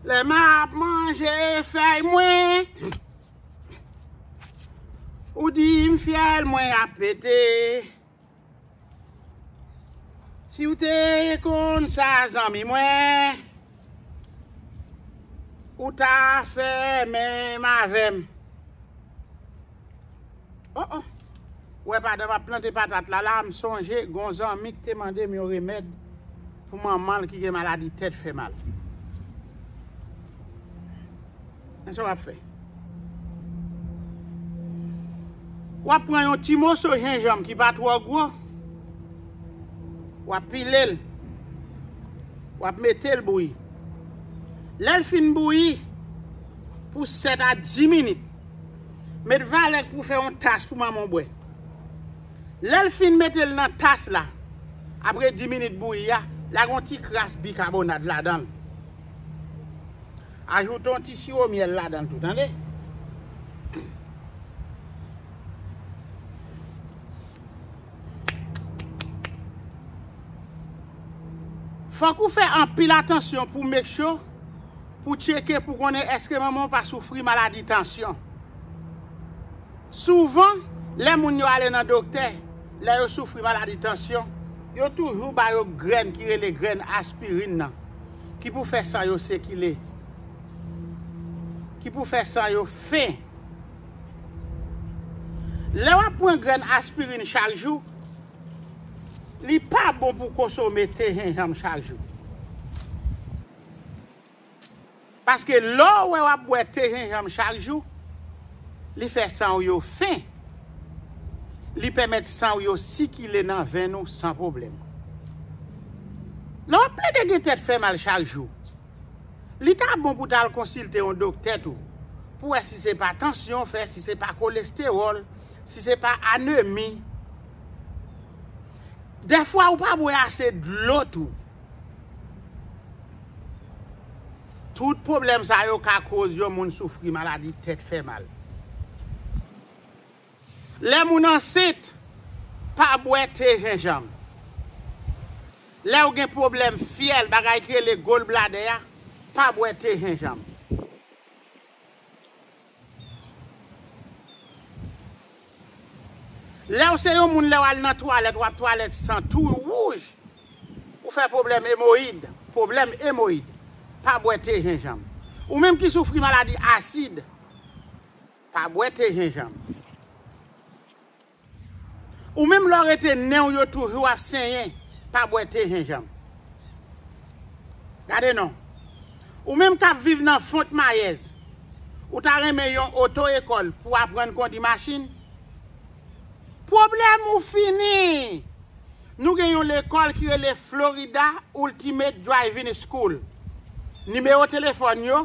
Lè m ap manje fèy mwen Ou di m fyèl mwen ap pete Si w te konn sa zanmi mwen Ou ta fè menm avè m Oh oh! Ou wè padan map plante patat la la, m sonje gon zanmi ki te mande m yon remèd pou manman l ki gen maladi tèt fè mal. Men sa w ap fè. W ap pran yon ti moso jenjanm ki pa twò gwo, w ap pile l, w ap mete l bouyi. Lè l fin bouyi pou 7 a 10 minit, Met valèk pou fè yon tas pou manman w bwè. Lè l fin mete l nan tas la, apre 10 minit bouyi a, lage yon ti kras bikabonad ladan l. Ajoute yon ti siwo myèl ladan l tou tande. Fòk ou fè anpil atansyon pou make sure. Pou tcheke pou konnen èske manman w pa soufri maladi tansyon. Souvan, lè moun yo ale nan doktè, lè yo soufri maladi tansyon, yo toujou ba yo grenn ki rele grenn aspirin nan, ki pou fè san yo sikile, ki pou fè san yo fen. Lè w ap pran grenn aspirin chak jou, li pa bon pou w konsome te jenjanm chak jou. Paske lè w wè w ap bwè te jenjanm chak jou, li fè san w yo fen, li pèmèt san w yo sikile nan venn ou san pwoblèm. Lè w ap plede gen tèt fè mal chak jou, li ta bon pou w ta al konsilte yon doktè tou pou w wè si se pa tansyon w fè, si se pa kolestewòl, si se pa anemi. Dèfwa ou pa bwè ase dlo tou. Tout pwoblèm sa yo ka koz yon moun soufri maladi tèt fè mal. Lè moun ansent, pa bwè te jenjanm. Lèw gen pwoblèm fyèl, bagay ki rele gallbladder a, pa bwè te jenjanm. Lèw se yon moun lèw al nan twalèt wap twalèt san tou wouj ou fè pwoblèm emoyid pwoblèm emoyid pa bwè te jenjanm ou menm ki soufri maladi asid pa bwè te jenjanm. Ou menm lè w rete nenw yo toujou ap senyen pa bwè te jenjanm gade non ou menm kap viv nan font mayèz ou ta renmen yon oto ekòl pou aprann kondi machin pwoblèm ou fini nou gen yon lekòl ki rele Florida Ultimate Driving School nimewo telefòn yo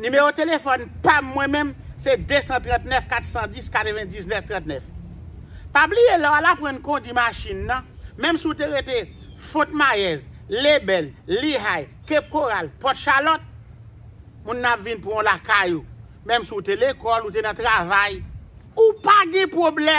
Nimewo telefòn pa m mwen menm se 239 410 99 39. Pa bliye lè w al aprann kondi machin nan, menm si w te rete Fòt Mayèz, Lebèl, Lihay, Kep Koral, Pòt Chalòt, moun nan ap vin pran w lakay ou. Menm si w te lekòl, ou te nan travay, ou pa gen pwoblèm.